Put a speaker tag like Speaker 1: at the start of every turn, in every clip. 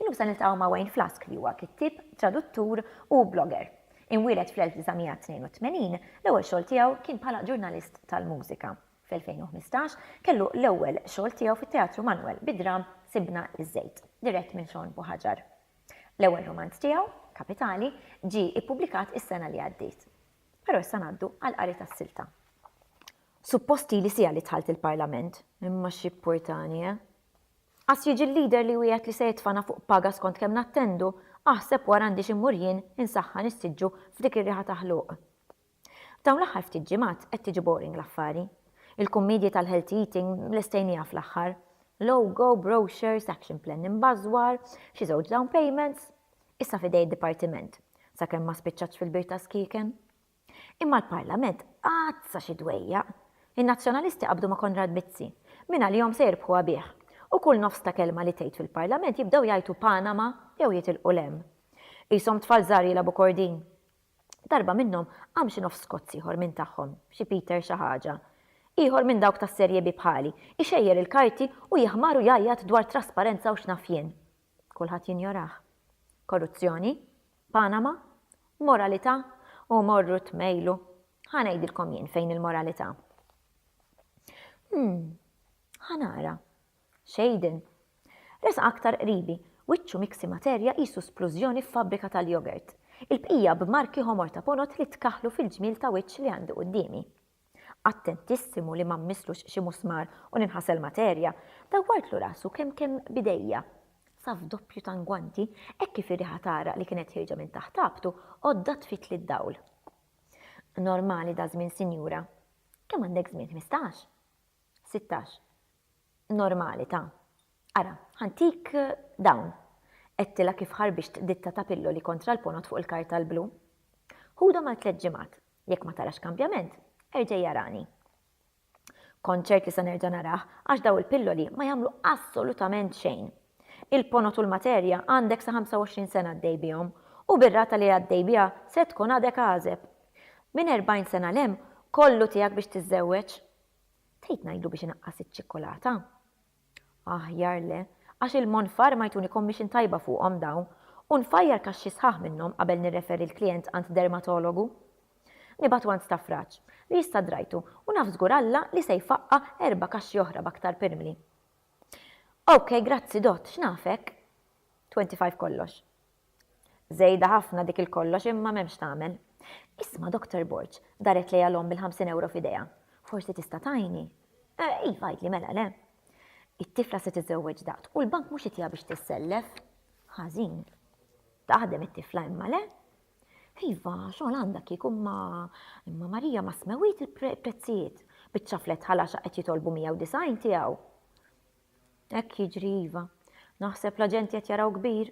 Speaker 1: Illum se niltaqgħu ma' Wayne Flask li huwa kittieb, traduttur u blogger. Imwieled fl-1982, l-ewwel xogħol tiegħu kien bħala ġurnalist tal-mużika. Fl-2015, kellu l-ewwel xogħol tiegħu fit-Teatru Manwel bid-dramm Sibna ż-Żejt, dirett minn Sean Buhaġar. L-ewwel rumanz tiegħu, Kapitali, ġie ippubblikat is-sena li għaddiet. Però issa ngħaddu għall-qari tas-silta. Suppost ili siegħa li dħalt il-Parlament, imma x'jippurtani, eh? Għax jiġi l-leader li jwiegħed li se jitfagħna fuq paga skont kemm nattendu, aħseb wara għandix immur jien insaħħan is-siġġu f'dik ir-riħa ta' ħluq. F'dawn l-aħħar ftit ġimgħat qed tiġi boring l-affari. Il-kummiedji tal-healthy eating lestejnieha fl-aħħar. Logo, brochures, action plan imbażwar, xi żewġ down payments. Issa f'idej id-dipartiment, sakemm ma spiċċatx fil-bir tas-skieken. Imma l-Parlament għazza xi dwejjaq! In-Nazzjonalisti qabdu ma' Konrad Mizzi. Minn għalihom se jirbħuha bih. U kull nofs ta' kelma li tgħid fil-Parlament jibdew jgħajtu Panama jew jitilqu 'l hemm. Qishom tfal żgħar jilgħabu kordin. Darba minnhom qam xi nofs Skots ieħor minn tagħhom, xi Peter xi ħaġa. Ieħor minn dawk tas-Serje B bħali, ixejjer il-karti u jaħmar u jgħajjat dwar trasparenza u x'naf jien. Kulħadd jinjorah. Korruzzjoni? Panama? Moralità? U morru tmejlu. Ħa ngħidilkom jien fejn il-moralità. Hmm, ħa nara. Xejden. Resaq aktar qribi, wiċċu miksi materja qisu splużjoni f'fabbrika tal-jogurt. Il-bqija b'marki ħomor ta' ponot li tkaħħlu fil-ġmiel ta' wiċċ li għandi quddiemi. Attentissimu li ma mmisslux xi musmar u ninħasel materja, dawwartlu rasu kemm kemm b'idejja. Sa f'doppju ta' ngwanti, hekk kif ir-riħa tagħraq li kienet ħierġa minn taħt ħabtu, għoddha tfitli d-dawl. Normali daż-żmien sinjura. Kemm għandek żmien, ħmistax? Sittax. Normali ta'. Ara, ħantik dawn. Għedtilha kif ħarbixt ditta ta' pilloli kontra l-ponot fuq il-karta l-blu. Ħudhom għal tliet ġimgħat. Jekk ma tarax kambjament, erġegħi arani. Kont ċert li se nerġa' narah għax dawn il-pilloli ma jagħmlu assolutament xejn. Il-ponot u l-materja għandek sa 25 sena għaddej bihom u bir-rata li għaddej biha se tkun għadek għażeb. Minn 40 sena 'l hemm kollu tiegħek biex tiżżewweġ. Trid ngħidlu biex inaqqas iċ-ċikkulata? Aħjar le, għax il-monfar ma jtuni commission tajba fuqhom dawn u nfajjar kaxxi sħaħ minnhom qabel nirreferi l-klijent għand dermatologu. Nibgħatu għand stafraġ, li issa drajtu u naf żgur Alla li se jfaqqa' erba' kaxxi oħra b'aktar pirmli. OK, grazzi Dott, x'nafek? 25 Kollox. Żejda ħafna dik il-kollox imma m'hemm x'tagħmel. Isma' Doctor Borg, daret lejha l-omm bil-ħamsin ewro f'idejha. Forsi tista' tgħinni? Eh, iva għidli mela le. It-tifla se tiżżewweġ daqt u l-bank mhux itiha biex tissellef. Ħażin. Taħdem it-tifla imma le? Iva, xogħol għandha kieku ma imma Marija ma smewit il-prezzijiet. Biċċa flet ħalaxa qed jitolbu 190 tiegħu. Hekk jiġri iva. Naħseb l-aġenti qed jaraw kbir.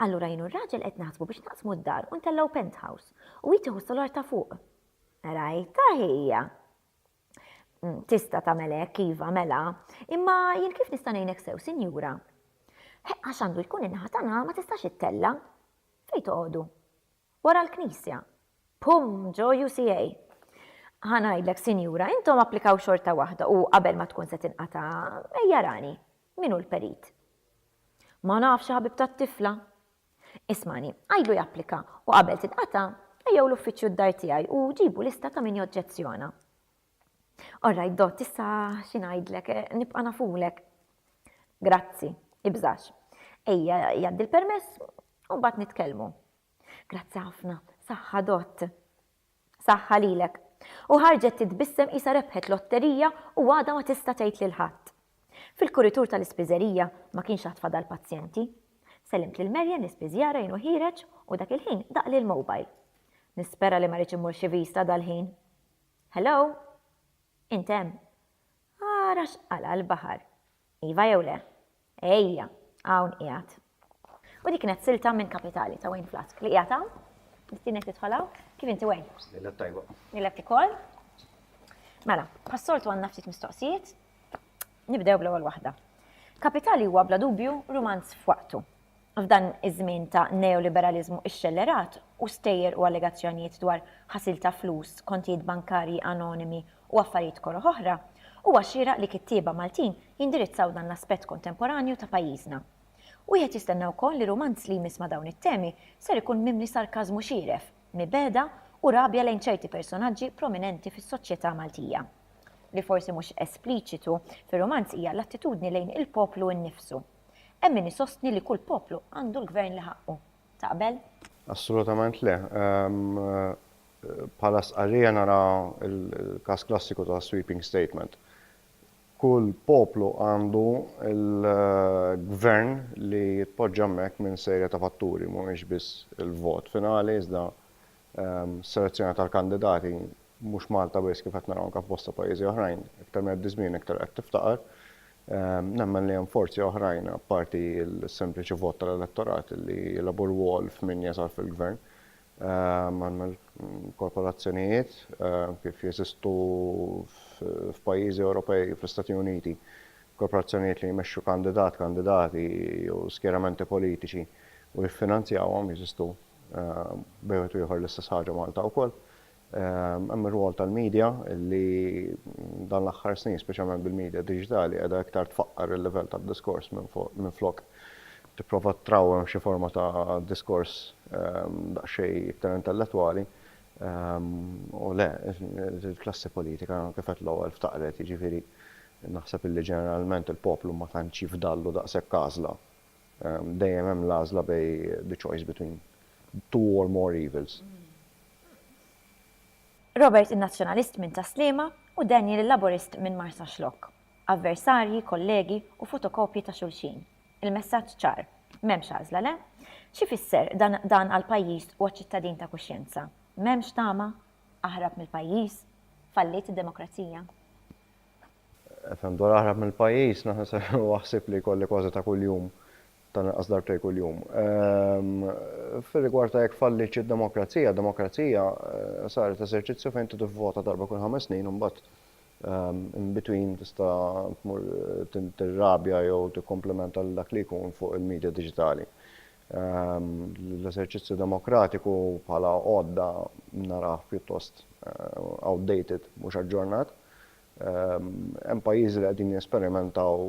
Speaker 1: Allura jien u r-raġel qed naħsbu biex naqsmu d-dar u ntellgħu penthouse. U hi tieħu s-solar ta' fuq. Rajtha hija? Tista' tagħmel hekk, iva, mela. Imma jien kif nista' ngħinek sew, sinjura? Għax għandu jkun in-naħa tagħna ma tistax ittella'. Fejn toqogħdu? Wara l-Knisja. Pum! Ġo UCA. Ħa ngħidlek, sinjura, intom applikaw xorta waħda u qabel ma tkun se tinqata', ejja rani. Min hu l-perit? Ma nafx, ħabib tat-tifla. Ismagħni, għidlu japplika u qabel tinqata', ejjew l-uffiċċju d-dar tiegħi u ġibu lista ta' min joġġezzjona. All right, Dott, issa xi ngħidlek, nibqa' nafulek. Grazzi, ibżax. Ejja, jgħaddi l-permess u mbagħad nitkellmu. Grazzi ħafna, saħħa Dott. Saħħa lilek. U ħarġet titbissem isa rebħet lotterija u għada ma tista' tgħid lil ħadd. Fil-kuritur tal-ispiżerija ma kienx għad fadal pazjenti. Sellimt lil Merjen l-ispiżjara jenu ħireġ u dak il-ħin daq lil mobile. Nispera li ma rridx imur xi vista dal-ħin. Hello? Int hemm? Ara x'qala' l-baħar. Iva jew le? Ejja, hawn qiegħed. U dik kienet silta minn kapitali ta' Wayne Flask li qiegħed hawn, nistinek tidħol hawn, kif inti Wayne? Lilek tajba.
Speaker 2: Lilek ukoll.
Speaker 1: Mela, bħas-soltu għandna ftit mistoqsijiet, nibdew bl-ewwel waħda. Kapitali huwa bla dubju rumanz f'waqtu. F'dan iż-żmien ta' neoliberaliżmu xxellerat u stejjer u allegazzjonijiet dwar ħasil ta' flus, kontijiet bankarji anonimi u affarijiet koroh oħra, huwa xieraq li kittieba Maltin jindirizzaw dan l-aspett kontemporanju ta' pajjiżna. Wieħed jistenna wkoll li rumanz li jmiss ma' dawn it-temi ser ikun mimli sarkażmu xieref, mibegħda u rabja lejn ċerti personaġġi prominenti fis-soċjetà Maltija. Li forsi mhux espliċitu fir-rumanz hija l-attitudni lejn il-poplu nnifsu. Hemm min isostni li kull poplu għandu l-gvern li ħaqqu. Taqbel? Assolutament
Speaker 2: le. Bħala stqarrija nara l-każ klassiku ta' sweeping statement. Kull poplu għandu l-gvern li jitpoġġa hemmhekk minn serje ta' fatturi, mhumiex biss il-vot finali iżda Selezzjoni tal-kandidati, mhux Malta biss kif qed naraw anke f'bosta pajjiżi oħrajn, iktar ma jgħaddi żmien iktar qed tiftaqar. Nemmen li hemm forzi oħrajn apparti l-sempliċi vot tal-elettorat li jilagħbu rwol f'min jasal fil-Gvern. Għandna l-korporazzjonijiet kif jeżistu f'pajjiżi Ewropej, fl-Istati Uniti, korporazzjonijiet li jmexxu kandidat, kandidati jew skjeramenti politiċi u jiffinanzjawhom jeżistu Bejn wieħed u ieħor l-istess ħaġa Malta wkoll. Hemm ir-rwol tal-media li dan l-aħħar snin, speċjalment bil-media diġitali, qiegħda iktar tfaqqar il-livell tad-diskors minflok tipprova trawwem xi forma ta' diskors daqsxejn iktar intellettwali. U le, il-klassi politika kif għedt l-ewwel ftaqret, jiġifieri naħseb li ġeneralment il-poplu ma tantx jifdallu daqshekk għażla. Dejjem hemm l-għażla bej the choice between two or more evils.
Speaker 1: Robert in-Nazzjonalist minn Tas-Sliema u Daniel il-Laburist minn Marsaxlokk. Avversarji, kollegi u fotokopji ta' xulxin. Il-messaġġ ċar. M'hemmx għażla, le? X'ifisser dan dan għall-pajjiż u għaċ-ċittadin ta' kuxjenza? M'hemmx tama? Aħrab mill-pajjiż? Falliet id-demokrazija?
Speaker 2: FM Dwar aħrab mill-pajjiż, naħseb huwa ħsieb li jkolli kważi ta' kuljum, tal-inqas darbtejn kuljum. Fir-rigward ta' jekk fallietx id-demokrazija, demokrazija saret eżerċizzju fejn inti tivvota darba kull ħames snin u mbagħad in between tista' tmur tirrabja jew tikkomplimenta lil dak li jkun fuq il-midja diġitali. L-eżerċizzju demokratiku bħala għodda narah pjuttost outdated, mhux aġġornat. Hemm pajjiżi li qegħdin jesperimentaw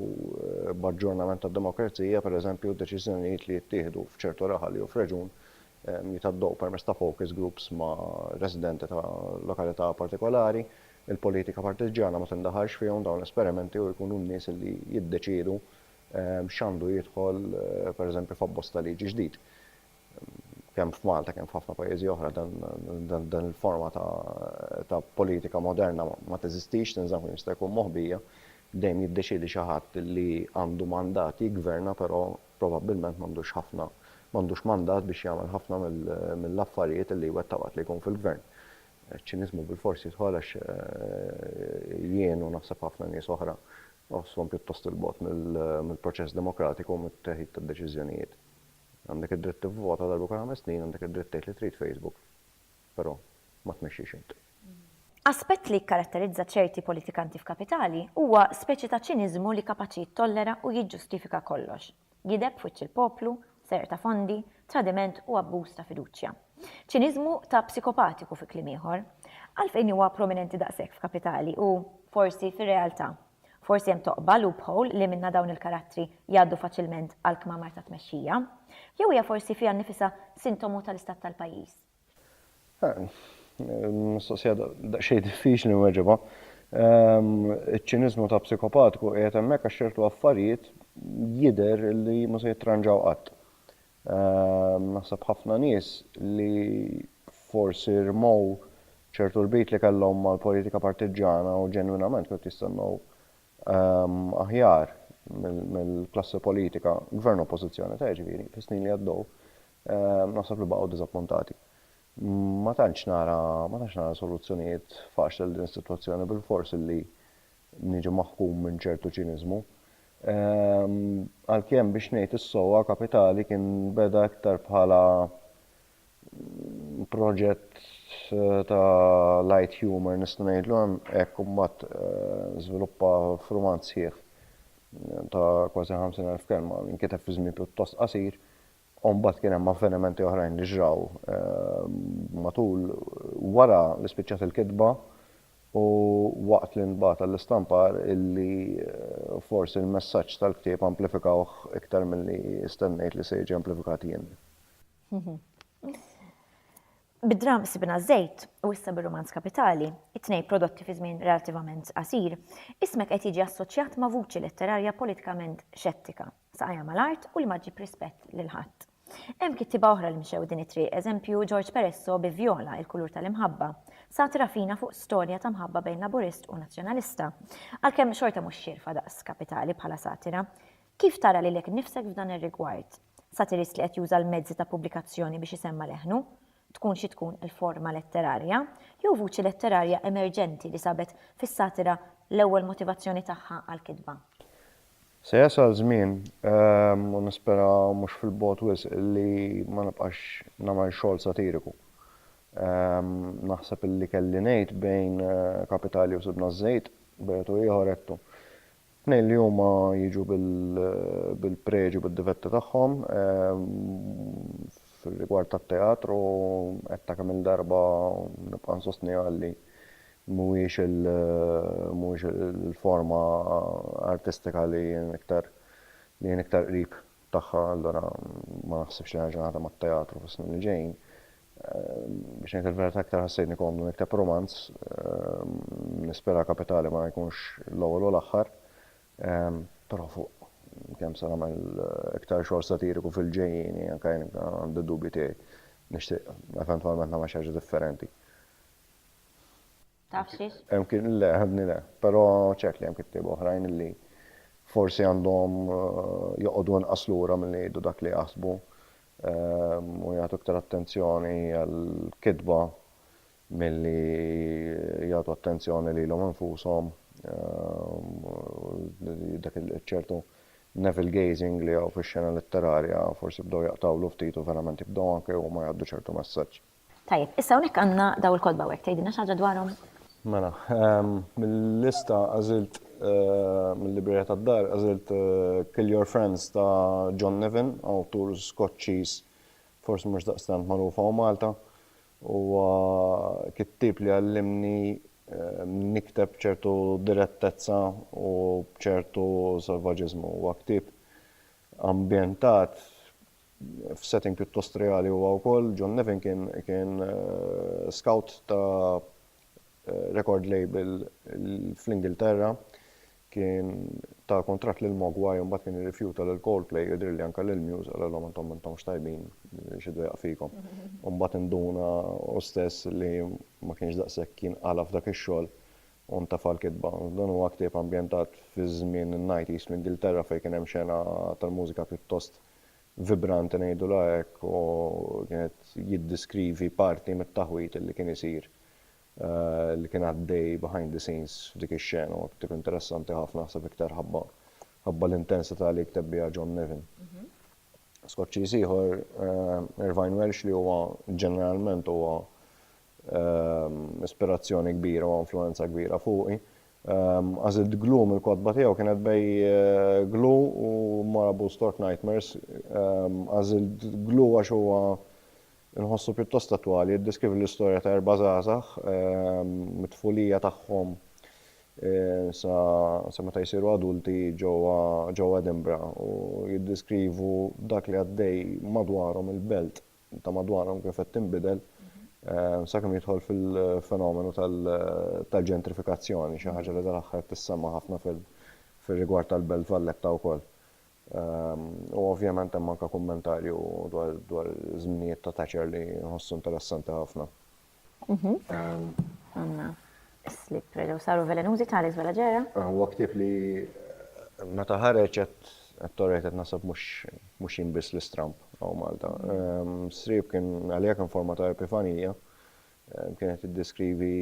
Speaker 2: b'aġġornament tad-demokrazija, pereżempju d-deċiżjonijiet li jittieħdu f'ċertu raħal jew f'reġun jitgħaddew permezz ta' focus groups ma' residenti ta' lokalità partikolari. Il-politika partiġġjana ma tindaħalx fihom dawn l-esperimenti u jkunu n-nies li jiddeċiedu x'għandu jidħol pereżempju f'abbozz ta' liġi ġdid. kemm f'Malta kemm f'ħafna pajjiżi oħra dan il-forma ta' politika moderna ma teżistix, tinżamm kemm jista' jkun moħbija, dejjem jiddeċiedi xi ħadd li għandu mandat jiggverna però probabbilment m'għandux ħafna m'għandux mandat biex jagħmel ħafna mill-affarijiet li jwettaq waqt li jkun fil-gvern. Iċ-ċiniżmu bilfors jidħol għax jien u naħseb ħafna nies oħra nħossuhom pjuttost 'il bogħod mill-proċess demokratiku u mit-teħid tad-deċiżjonijiet. Għandek id-dritt tivvota darba kull ħames snin, għandek id-dritt tgħid li trid Facebook, però ma tmexxix int. Aspett
Speaker 1: li jikkaratterizza ċerti politikanti f'kapitali huwa speċi ta' ċiniżmu li kapaċi jittollera u jiġġustifika kollox, gideb f'wiċċ il-poplu, serq ta' fondi, tradiment u abbuż ta' fiduċja. Ċiniżmu ta' psikopatiku fi kliem ieħor. Għalfejn huwa prominenti daqshekk f'kapitali u, forsi, fir-realtà? Forsi hemm toqba, loophole, li minnha dawn il-karattri jgħaddu faċilment għall-kmamar tat-tmexxija. Jew hija forsi fiha nnifisha sintomu tal-istat tal-pajjiż?
Speaker 2: Mistoqsija daqsxejn diffiċli nweġibha. Iċ-ċiniżmu ta' psikopatiku qiegħed hemmhekk għax ċertu affarijiet jidher li ma se jittranġaw qatt. Naħseb ħafna nies li forsi rmow ċertu rbit li kellhom mal-politika partiġġana u ġenwinament kienu qed jistennew aħjar mill-klassi politika, Gvern u Oppożizzjoni ta' jiġifieri, fis-snin li għaddew, naħseb li baqgħu diżappuntati. Ma tantx nara ma tantx nara soluzzjonijiet faċli għal din is-sitwazzjoni bilfors illi niġi maħkum minn ċertu ċiniżmu. Għalkemm biex ngħid is-sewwa Kapitali kien beda iktar bħala proġett ta' light humour nista' ngħidlu hekk u mbagħad żviluppa f'rumanz sħiħ ta' kważi 50,000 kelma li nkiteb fi żmien pjuttost qasir u mbagħad kien hemm avvenimenti oħrajn li ġraw matul wara li spiċċat il-kitba u waqt li ntbagħat għall-istampar illi forsi l-messaġġ tal-ktieb amplifikawh iktar milli stennejt li se jiġi amplifikat jien.
Speaker 1: Bid-dramm Sibna ż-Żejt u issa bir-rumanz Kapitali, it-tnejn prodotti fi żmien relattivament qasir, ismek qed jiġi assoċjat ma' vuċi letterarja politikament xettika. saqajha mal-art u li ma ġġib rispett lil ħadd. Hemm kittieba oħra li mxew din it-triq, eżempju George Peresso bi Vjola, il-kulur tal-imħabba. Satira fina fuq storja ta' mħabba bejn Laburist u Nazzjonalista. Għalkemm xorta mhux xierfa daqs kapitali bħala satira. Kif tara lilek innifsek f'dan ir-rigward? Satirist li qed juża l-mezzi ta' pubblikazzjoni biex isemma' leħnu, tkun xi tkun il-forma letterarja, jew vuċi letterarja emerġenti li sabet fis-satira l-ewwel motivazzjoni tagħha għall-kitba? Se
Speaker 2: jasal żmien, u nispera mhux fil-bogħod wisq, li ma nibqax nagħmel xogħol satiriku. Naħseb li kelli ngħid bejn Kapitali u Sibna ż-Żejt, bejgħet u ieħor għedtu. Tnejn li huma jiġu bil-preġi u bid-difetti tagħhom. Fir-rigward tat-teatru, għedtha kemm-il darba u nibqa' nsostniha li mhuwiex il-forma artistika li jien iktar li jien iktar qrib tagħha allura ma naħsibx li nerġa' naħdem għat-teatru fis-snin li ġejjin. Biex ngħid il-verità iktar ħassejtni komdu nikteb rumanz, nispera kapitali ma jkunx l-ewwel u l-aħħar, però fuq kemm se nagħmel iktar xogħol satiriku fil-ġejjieni anke jien għandi d-dubji tiegħi. Nixtieq eventwalment nagħmel xi ħaġa differenti.
Speaker 1: Taf xiex? Hemm kit, le, ħadni le.
Speaker 2: Però ċert li hemm kittieba oħrajn illi forsi għandhom joqogħdu inqas lura milli jgħidu dak li jaħsbu u jagħtu iktar attenzjoni għall-kitba milli jagħtu attenzjoni lilhom infushom u dak iċ-ċertu navel gazing li hawn fix-xena letterarja forsi bdew jaqtgħulu ftit u verament jibdew anke huma jgħaddu ċertu messaġġ. Tajjeb, issa hawnhekk
Speaker 1: għandna dawn il-kotba u hekk, tgħidilna xi ħaġa dwarhom? Mela,
Speaker 2: mil-lista għażilt, mil-librerija tad-dar, għażilt Kill Your Friends ta' John Niven, awtur Skoċċiż forsi mhux daqstant magħruf hawn Malta. Huwa kittieb li għallimni nikteb b'ċertu direttezza u b'ċertu salvaġiżmu. Huwa ktieb ambjentat F'setting pjuttost reali huwa wkoll, John Nevin kien scout ta' record label fl-Ingilterra, kien ta kuntratt lil Mogwai u mbagħad kien irrifjuta lil Coldplay, jidhirli anke lil Muse, qalilhom intom m'intomx tajbin, xi dwejjaq fikom. U mbagħad induna hu stess li ma kienx daqshekk jinqala' f'dak ix-xogħol u ntefa' l-kitba. Dan huwa ktieb ambjentat fiż-żmien in-nighties fl-Ingilterra fejn kien hemm xena tal-mużika pjuttost vibranti ngħidulha hekk u kien qed jiddiskrivi parti mit-taħwid li kien isir li kien għaddej behind the scenes f'dik ix-xena u tip interessanti ħafna naħseb iktar ħabba ħabba l-intensità li jikteb biha John Nevin. Skoċċiż ieħor Irvine Welsh li huwa ġeneralment huwa ispirazzjoni kbira u influwenza kbira fuqi. Għażilt Glue mill-kotba tiegħu kienet bej Glue u Marabou Stork Nightmares. Għażilt Glue għax huwa nħossu pjuttost attwali, jiddeskrivi l-istorja ta' erba' żgħażagħ mit-tfulija tagħhom sa meta jsiru adulti ġewwa Edinburgh u jiddeskrivu dak li għaddej madwarhom il-belt. ta' madwarhom kif qed tinbidel sakemm jidħol fil-fenomenu tal-ġentrifikazzjoni, xi ħaġa li dal-aħħar qed tissemma' ħafna fir-rigward tal-Belt Valletta wkoll. U ovvjament hemm anke kummentarju dwar żminijiet ta' Thatcher li nħossu interessanti ħafna. Mhm. Ehm,
Speaker 1: Għanna slip reġaw saru velenużi tali żwela ġera. Ah, huwa ktieb li
Speaker 2: eh, meta ħareġ qed torret qed nasab mhux jinbiss l-istramp għaw Malta. Ehm, Srib kien għalija kien forma ta' epifanija ehm, kienet iddeskrivi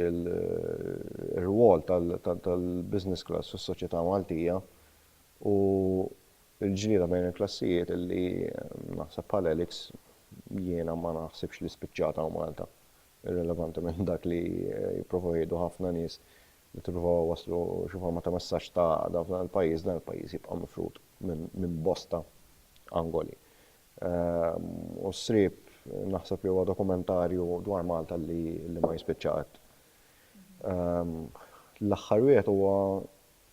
Speaker 2: l-rwol tal-business class fis-soċjetà Maltija u Il-ġlieda bejn il-klassijiet li, naħseb bħal Alex, jiena ma naħsibx li spiċċat hawn Malta, irrilevanti minn dak li jipprovaw jgħidu ħafna nies li jippruvaw iwasslu xi forma ta' messaġġ ta' għaqda f'dan il-pajjiż, dan il-pajjiż jibqa' mifrud minn bosta angoli. U s-sriep naħseb li huwa dokumentarju dwar Malta li ma jispiċċa qatt. L-aħħar wieħed huwa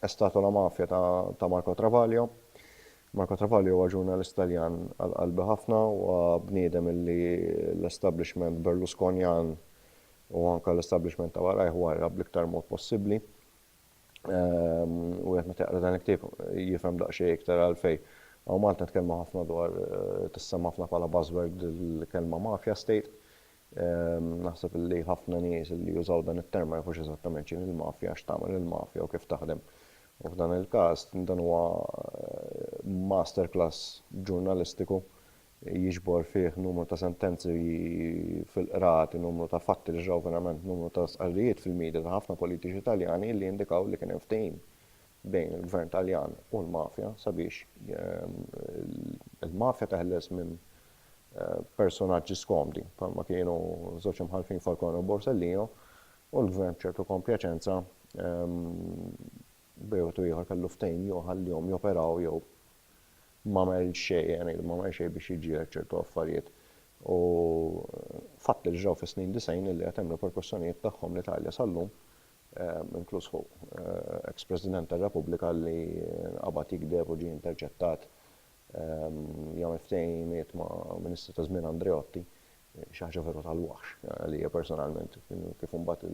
Speaker 2: Estatu la mafia ta' Marco Travaglio. Marco Travaglio huwa ġurnalist Taljan għal qalbi ħafna, huwa bniedem illi l-establishment Berlusconjan u anke l-establishment ta' warajh warrab bl-iktar mod possibbli. Wieħed meta jaqra dan il-ktieb jifhem daqsxejn iktar għalfejn. Hawn Malta nitkellmu ħafna dwar, tissemma' ħafna bħala buzzword il-kelma mafia state. Naħseb li ħafna nies li jużaw dan it-term ma jafux eżattament x'inhi l-mafja, x'tagħmel il-mafja u kif taħdem. U f'dan il-każ dan huwa master class ġurnalistiku jiġbor fih numru ta' sentenzi fil-qrati, numru ta' fatti li ġraw verament, numru ta' stqarrijiet fil-midja ta' ħafna politiċi Taljani li jindikaw li kien hemm ftehim bejn il-Gvern Taljan u l-mafja sabiex il-mafja teħles minn personaġġi skomdi bħalma kienu żewġ imħallfin Falcone u Borsellino u l-Gvern b'ċertu kompjaċenza b'wieħed u ieħor kellu ftehim jew ħallihom joperaw jew m'għamel xejn, ngħidu m'għamel xejn biex jiġġieled ċertu affarijiet. U fatt li ġraw fis-snin 90 illi għad hemm riperkussjonijiet tagħhom l-Italja sal-lum, inkluż fuq eks President tar-Repubblika li qabad jigdeb u ġie interċettat jagħmel ftehimiet ma' Ministri ta' żmien Andreotti, xi ħaġa veru tal-waħx għalija personalment, kif imbagħad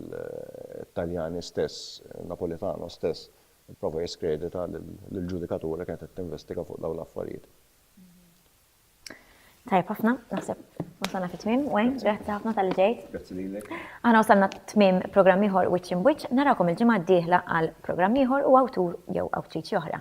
Speaker 2: it-Taljani stess, Napolitano stess, ipprova jiskredita lill-ġudikatura li kienet qed tinvestiga fuq dawn l-affarijiet.
Speaker 1: Tajjeb ħafna, naħseb wasalna fit-tmiem, Wayne, grazzi ħafna tal-li ġejt. Grazzi lilek.
Speaker 2: Aħna wasalna t-tmiem
Speaker 1: programm ieħor Wiċċ Imbwiċċ, narakom il-ġimgħa d-dieħla għal programm ieħor u awtur jew awtriċi oħra.